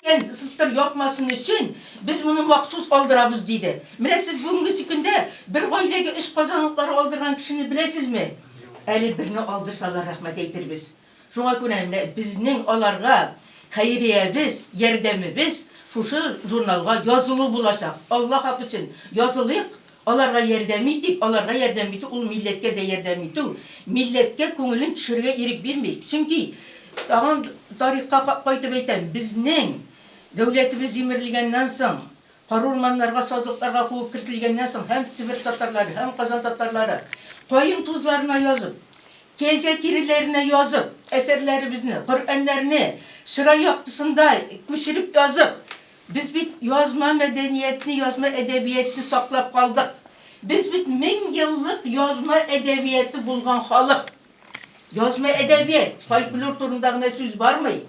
Икән, сыстыр япмасын өчен, без моны махсус алдырабыз, диде. Менә сез бүгенгесе көндә бер гаиләгә өч казан утлары алдырган кешене беләсезме? Әле берне алдырсалар, рәхмәт әйтербез. Шуңа күрә менә безнең аларга хәйриябез, ярдәмебез шушы журналга язылу булачак. Алла хак өчен, язылыйк! Аларга ярдәм итик, аларга ярдәм итү ул милләткә дә ярдәм итү, милләткә күңелен төшерергә ирек бирмик. Чөнки, тагын тарихка кайтып әйтәм, безнең дәүләтебез җимерелгәннән соң, карурманнарга, сазлыкларга куып кертелгәннән соң һәм Себер татарлары, һәм Казан татарлары каен тузларына язып, кәҗә тиреләренә язып, әсәрләребезне, Коръәннәрне чырай яктысында күчереп язып, Без бит язма мәдәниятне, язма әдәбиятне саклап калдык. Без бит мең еллык язма әдәбияты булган халык. Язма әдәбият, фольклор турында гына сүз бармый.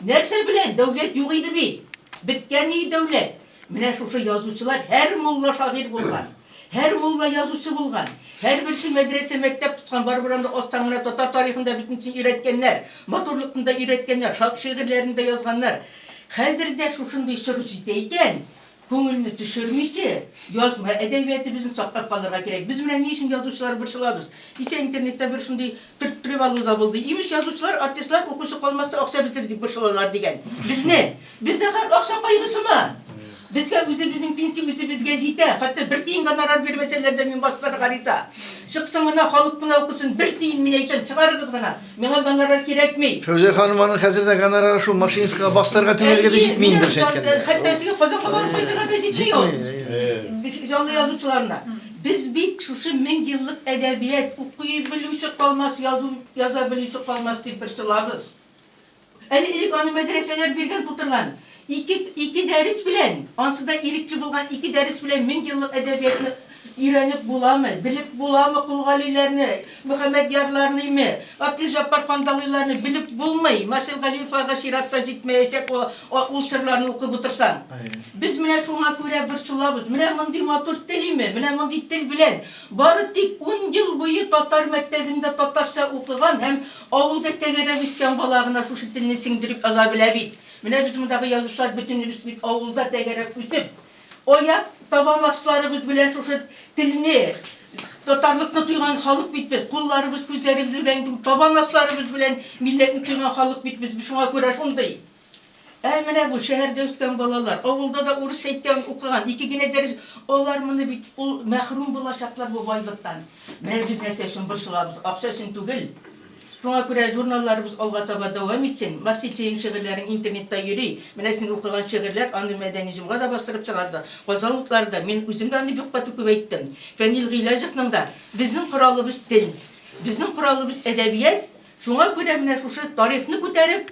Нәрсә белән? Дәүләт юк иде бит. Беткән иде дәүләт. Менә шушы язучылар, һәр мулла шагыйрь булган. Һәр мулла язучы булган. Һәрберсе мәдрәсә, мәктәп тоткан. Барыбер анда астан гына татар тарихын да бөтенесен өйрәткәннәр. Матурлыкны да өйрәткәннәр. Ша шигырьләрен дә язганнар. Хәзер дә шушындый соры җитә икән, күңелне төшермичә, язма әдәбиятыбызны саклап калырга кирәк. Без менә ни өчен язучылар борчылабыз дисә, интернетта бер шундый Төрттереп алу заводы, имеш, язучылар, артистлар укучы калмаска акча бетерик дип борчылалар, дигән. Безне, бездә хәл акча кайгысымы? Безгә үзебезнең пенсия үзебезгә җитә. Хәтта бер тиен гонорар бирмәсәләр дә, мин бастырыр гариза. Чыксын гына, халык кына укысын. Бер тиен, мин әйтәм, чыгарыгыз гына. Миңа гонорар кирәкми. Фәүзия ханым, аның хәзер дә гонорары шул машинистка бастырырга түләргә дә җитми инде, дөрес әйткәндә. Хәтта теге Казанга барып кайтырга да җитми ул. Җитми. Җанлы язучыларына. Без бит шушы мең еллык әдәбият, укый белүче калмас, язу яза белүче калмас дип борчылабыз. Әле элек аны мәдрәсәләр биргән тутырган. Ике, ике дәрес белән, ансы да ирекче булган ике дәрес белән мең еллык әдәбиятны өйрәнеп буламы, белеп буламы Колгалиләрне? Мөхәммәдьярларныймы, Абделҗәббар Кандалыйларны белеп булмый, Марсел Галиевларга чират та җитмәячәк ул серларны укып утырсаң. Без менә шуңа күрә борчылабыз, менә мондый матур телиме, менә мондый тел белән бары тик ун ел буе татар мәктәбендә татарча укыган һәм авылда тәгәрәп үскән бала гына шушы телне сеңдереп яза белә бит. Менә без мондагы язучылар бөтенебез бит авылда тәгәрәп үсеп, Аяк табанлашларыбыз белән шушы телне, татарлыкны тойган халык бит без, кулларыбыз, күзләребез белән түгел, табанлашларыбыз белән милләтне тойган халык бит без, шуңа күрә шундый. Ә менә бу шәһәрдә үскән балалар, авылда да урысча әйткән, укыган, ике генә дәрес, алар моны бит, ул мәхрүм булачаклар бу байлыктан. Менә без нәрсә өчен борчылабыз, акча өчен түгел. Шуңа күрә журналларыбыз алга таба дәвам итсен. Марсель, синең шигырьләрең интернетта йөри. Менә син укыган шигырьләр, аны Мәдәни җомга да бастырып чыгарды, Казан утлары да. Мин үзем дә аны бик каты күбәйттем. Фәнил Гыйләҗевның да Безнең коралыбыз, тел. Безнең коралыбыз, әдәбият. Шуңа күрә менә шушы тарихны күтәреп.